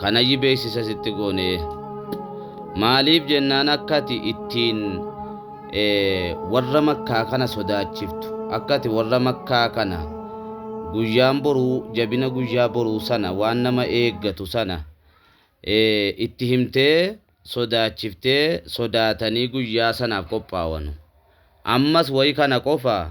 Kanayyi beeksisa sitti goone. Maaliif jennaan akka ati ittiin warra makkaa kana sodaachiftu. Akka ati warra makkaa kana guyyaan boruu jabina guyyaa boruu sana waan nama eeggatu sana itti himtee sodaachiftee sodaatanii guyyaa sanaaf qophaawanu. Ammas wayi kana qofa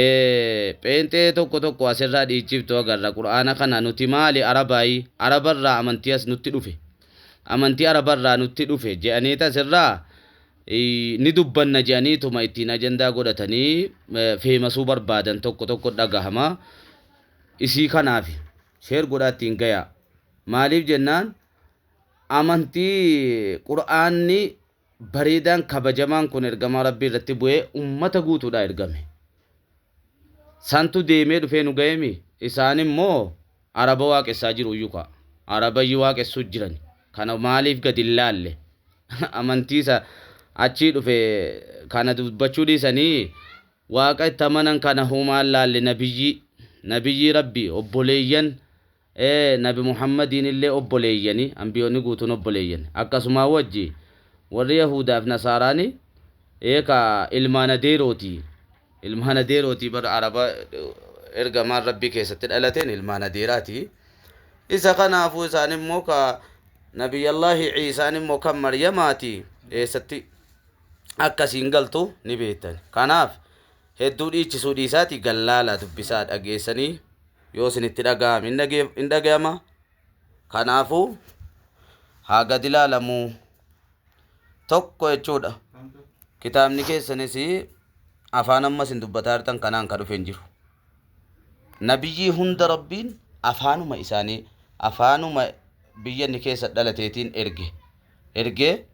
Ee pheenxee tokko tokko asirraa dhiichiftu agarra qur'aana kana nuti maali arabaayi arabarraa amantii as nutti dhufe amantii arabarraa nutti dhufe je'aniita asirraa ni dubbanna je'aniituma ittiin ajandaa godhatanii feemasuu barbaadan tokko tokko dhagahama isii kanaafi sheer godhaa ittiin gayaa maaliif jennaan amantii qur'aanni bareedaan kabajamaan kun ergamaa Rabbii irratti bu'ee ummata guutuudhaa ergame. Santu deemee dhufee nu ga'eemi? Isaan immoo Araba waaqessaa jiruuyyu kaa. Arabayyi waaqessuu jirani. Kana maaliif gadi hin laalle? Amantii isa achii dhufe kana dubbachuu dhiisanii Waaqa itti amanan kana humaa hin laalle Nabiyyii, Nabiyyii Rabbii, obboleeyyan Ee, Nabi Muhammadiinillee obboleeyyani, anbiyoonni guutuun obboleeyyan. Akkasumaa wajji, warri Yahuudaa fi Nasaaraani, ee ka ilmaan adeerooti. Ilmaan adeerooti bar Araba Ergamaan Rabbii keessatti dhalateen ilmaan adeeraati. Isa kanaafuu isaan immoo ka Nabiyyallaahi Iisaan immoo kan Maryamaati. Eessatti akka isiin galtu ni beektan. Kanaaf, hedduu dhiichisuu dhiisaatii gad laalaa dubbisaa dhageessanii. yoo isinitti dhaga'ame hin dhaga'ama. Kanaafuu haa gad ilaalamu tokko jechuudha. Kitaabni keessanis afaan amma isin dubbataa jirtan kanaan kan dhufe hin jiru. Nabiyyii hunda rabbiin afaanuma isaanii afaanuma biyya inni keessa dhalateetiin erge. Ergee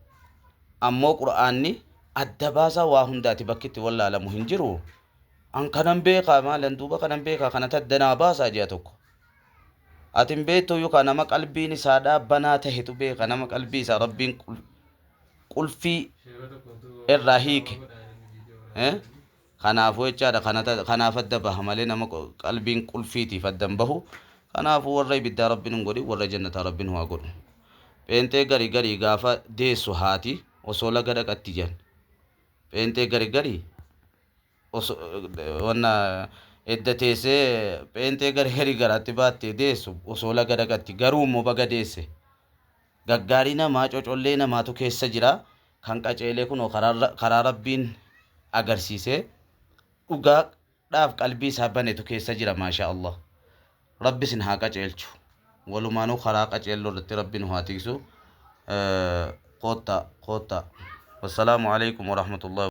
ammoo qura'aanni adda baasaa waa hundaati bakki itti wallaalamu hin jiru. An kanan beekaa maalan duuba kanan beekaa kanati adda naa baasaa ji'a tokko. Ati hin beektuuyyu kaa nama qalbiin isaadhaa banaa tahetu beeka nama qalbii isaa rabbiin qulfii irraa hiike kanaafuu jechaadha kanaaf adda baha malee nama qalbiin qulfiitiif adda hin bahu kanaafuu warra ibiddaa rabbiin hin godhin warra jannataa rabbiin haa godhu. Pheenxee gari gari gaafa deessu haati osoo laga dhaqatti jedhan. Pheenxee gari gari wanna edda teessee pheenxee gara herii garaatti baattee deessu osoo laga dhaqatti garuu immoo baga deesse gaggaarii namaa cocollee namaatu keessa jira kan qaceelee kunoo karaa rabbiin agarsiisee dhugaa dhaaf qalbii isaa banetu keessa jira maashaa allah rabbi isin haa qaceelchu walumaanuu karaa qaceelloo irratti rabbi nu haa tiisu koottaa koottaa wassalaamu alaikum warahmatullahi